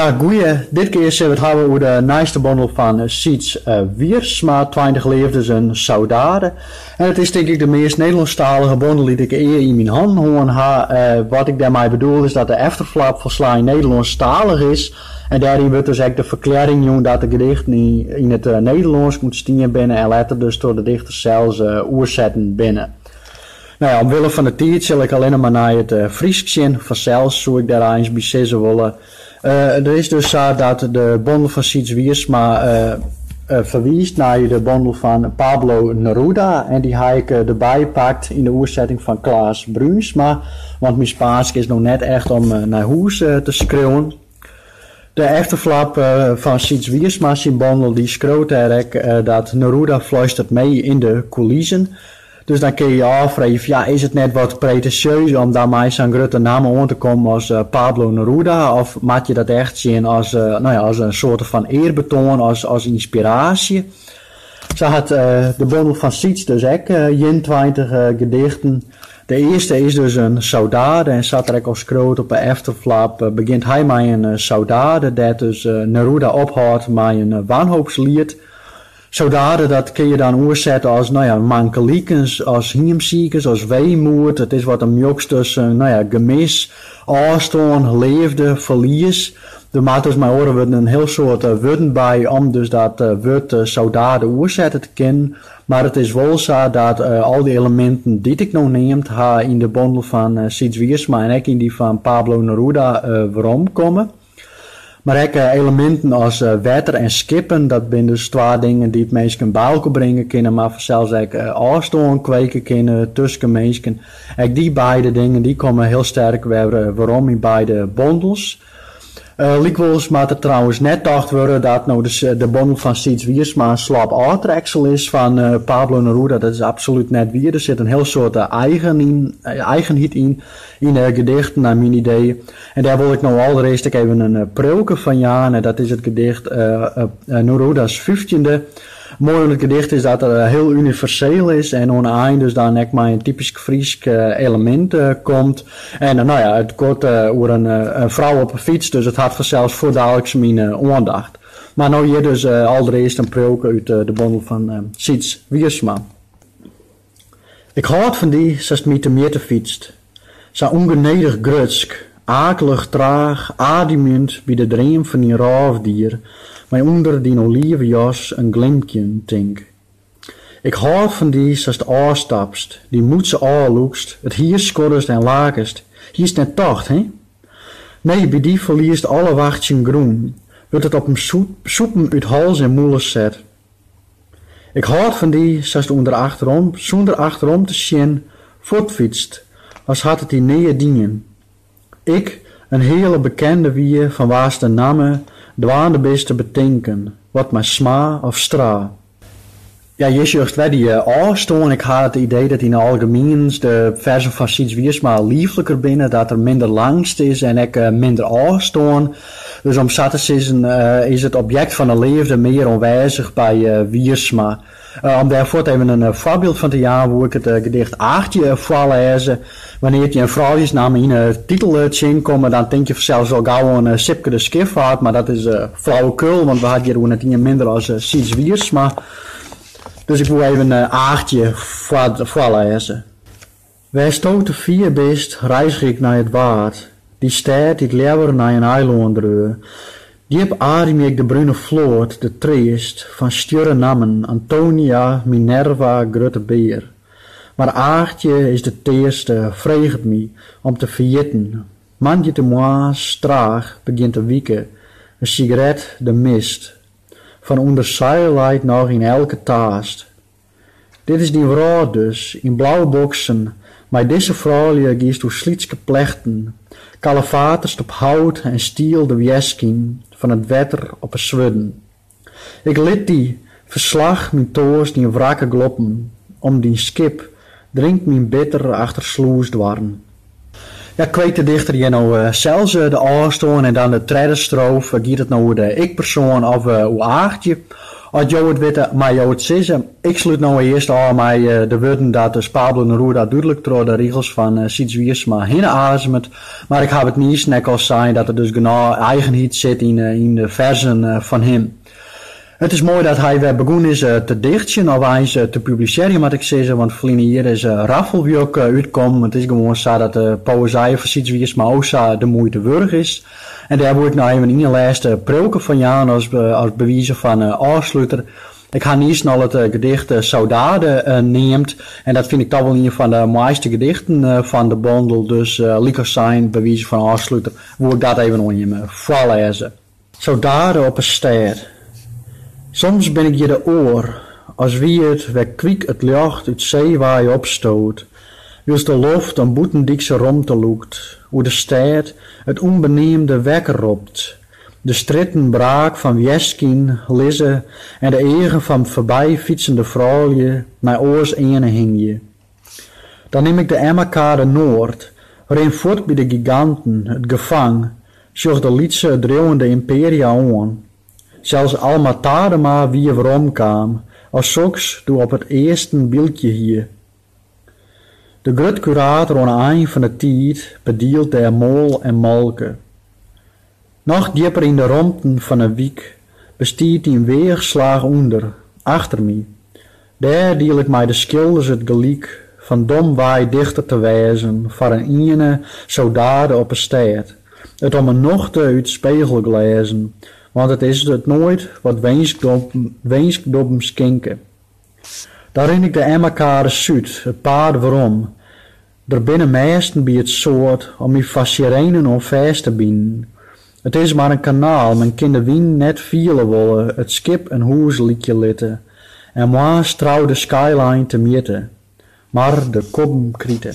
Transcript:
Ja, goeie. Dit kear sille we it hawwe oer de nijste bondel fan Syds Wiersma, Tweintich leafdes, in saudade. En it is tink ek de meast Nederlânsktalige bondel dy't ik ea yn myn hannen hân ha. Wat ik dêrmei bedoel is dat de efterflap folslein Nederlânsktalich is en dêryn wurdt dus ek de ferklearring jûn dat de gedichten yn it Nederlânsk ûntstien binne en letter dus troch de dichter sels oersetten binne. No ja, omwille fan 'e tiid sil ik allinne mar nei it Frysk sjen. Fansels soe ik dêr eins by sizze wolle. It is dus sa dat de bondel fan Syds Wiersma ferwiist nei de bondel fan Pablo Neruda en dy ha ik derby pakt yn de oersetting fan Klaas Bruinsma, want myn Spaansk is no net echt om nei hûs te skriuwen. De efterflap fan Syds Wiersma syn bondel dy skriuwt dêr ek dat Neruda fluistert mee in de coulissen. Dus dan kinne je je ôffreegje fan ja, is it net wat pretensjeus om dan mei sa'n grutte namme oan te kommen as Pablo Neruda of moatte je dat echt sjen as no ja, as in soarte fan earbetoan, as ynspiraasje. Sa hat de bondel fan Syds dus ek ienentweintich gedichten. De earste is dus in saudade en sa't er ek al skriuwt op 'e efterflap begjint hy mei in saudade dêr't dus Neruda ophâldt mei in wanhoopsliet. Saudade dat kinne je dan oersette as no ja, mankelikens, as hiemsikens, as weemoed. It is wat in mjoks tusken no ja, gemis, ôfstân, leafde, ferlies. Der moat dus mei oare wurden in hiel soad wurden by om dus dat wurd saudade oersette te kinnen. Mar it is wol sa dat al dy eleminten dy't ik no neamd ha yn de bondel fan Syds Wiersma en ek yn dy fan Pablo Neruda weromkomme. Mar ek eleminten as wetter en skippen, dat binne dus twa dingen dy't minsken byelkoar bringe kinne, mar fansels ek ôfstân kweke kinne tusken minsken. Ek dy beide dingen dy komme hiel sterk wer werom yn beide bondels. Lykwols moat der trouwens net tocht wurde dat no de bondel fan Syds Wiersma in slop ôftreksel is fan Pablo Neruda. Dat is absolút net wier. Der sit in hiel soad eigenheid yn de gedichten nei myn idee. En dêr wol ik no alderearst ek even in priuwke fan jaan. En dat is it gedicht Neruda's fyftjinde. Moai oan it gedicht is dat it hiel universeel is en oan 'e ein dus dan ek mei in typysk Frysk elemint komt. En no ja, it goat oer in frou op 'e fyts, dus it hat fansels fuortdaliks myn oandacht. Mar no hjir dus alderearst in priuwke út de bondel fan Syds Wiersma. Ik hâld fan dy, sast my temjitte fytst. Sa ûngenedich grutsk, akelich traach, ademjend by de dream fan dyn rôfdier, mei ûnder dyn olive jas in glimkjen tink. Ik hâld fan dy, sast ôfstapst, dyn mûtse ôflûkst, it hier skoddest en lakest, hiest net tocht, hin? Nee, by dy ferliest alle wachtsjen grûn, wurdt it op in sûpen út hals en mûle set. Ik hâld fan dy, sast ûnder achterom, sûnder achterom te sjen, fuortfytst as hat it dy neat dien. Ik, in heale bekende wie fan wa'st de namme dwaande bist te betinken, wat mei Sma of Stra. Ja, hjir sjochst wer dy ôfstân. Ik ha it idee dat yn 't algemien de fersen fan Syds Wiersma liefliker binne, dat der minder langst is en ek minder ôfstân. Dus om sa te sizzen is it objekt fan 'e leafde mear oanwêzich by Wiersma. Om dêr fuort even in foarbyld fan te jaan woe ik it gedicht Aagtje foarlêze. Wannear't je in frouljussnamme yn 'e titel tsjinkomme, dan tink je fansels al gau oan Sipke de Schiffart, mar dat is flauwekul, want we ha it hjir oer net ien minder as Syds Wiersma. Dus ik woe even Aagtje foarlêze. Wêrsto te fier bist, reizge ik nei it Waad, dy stêd dy't leaver nei in eilân dreau. Djip ademje ik de brune float, de treast fan stjurre nammen, Antonia, Minerva, Grutte Bear. Mar Aagtje is de tearste, freget my om te ferjitten. Moandeitemoarns traach begjint te wike, in sigaret de mist. Fan ûnderseil leit noch yn elke taast. Dit is dyn wrâld dus, yn blauwe boksen, mei dizze froulju giest oer slytske plechten, kalefaterst op hout en stiel de wjerskyn fan it wetter op 'e swurden. Ik lit dy, ferslach myn toarst yn wrakke gloppen, om dyn skip, drink myn bitter achter slûsdoarren. Kweekt de dichter hjir no sels de ôfstân en dan de tredde strofe? Giet it no oer de ikpersoan of oer Aagtje? As jo it witte, mei jo it sizze. Ik slút no earst ôf mei de wurden dat dus Pablo Neruda dúdlik troch de rigels fan Syds Wiersma hinne azemet. Mar ik haw it niis net al sein dat der dus genôch eigenheid sit yn de fersen fan him. It is moai dat hy wer begûn is te dichtsjen of eins te publisearjen moat ik sizze, want ferline jier is Raffelwjok útkommen. It is gewoan sa dat de poëzy fan Syds Wiersma o sa de muoite wurdich is. En dêr woe ik no even ien lêst priuwke fan jaan as by wize fan ôfsluter. Ik ha niis al it gedicht Saudade neamd en dat fyn ik toch wol ien fan de moaiste gedichten fan de bondel, dus lykas sein by wize fan ôfsluter woe ik dat even oan jim foarlêze. Saudade op 'e stêd. Soms bin ik hjir de oar, as wie it wer kwyk it ljocht út see wei opstoot, wylst de loft in bûtendykse romte lûkt, oer de stêd it ûnbeneamde wekker ropt, de strjitten braak fan wjerskyn lizze en de eagen fan foarbyfytsende froulju nei oars earne hingje. Dan nim ik de Emmakade Noard, rin fuort by de giganten, it gefang, sjoch de lytse driuwende imperia oan. Sels Alma Tadema wie weromkaam, as soks doe op it easten bylkje hie. De grut-kurator oan 'e ein fan 'e tiid bedielt dêr moal en molke. Noch djipper yn de romten fan 'e wyk bestiet in weachslach ûnder, achter my. Dêr diel ik mei de skilders it gelyk fan domwei dichter te wêzen foar in iene saudade op 'e stêd, it om 'e nochte út spegelglêzen, want it is it noait wat winskdobben skinke. Dan rin ik de Emmakade Súd it paad werom, Der binne mêsten by it soad om my foar sirenen oan fêst te binen. It is mar in kanaal, men kin de wyn net fiele wolle, it skip in hûs lykje litte en moarns trou de skyline temjitte, mar de kobben krite.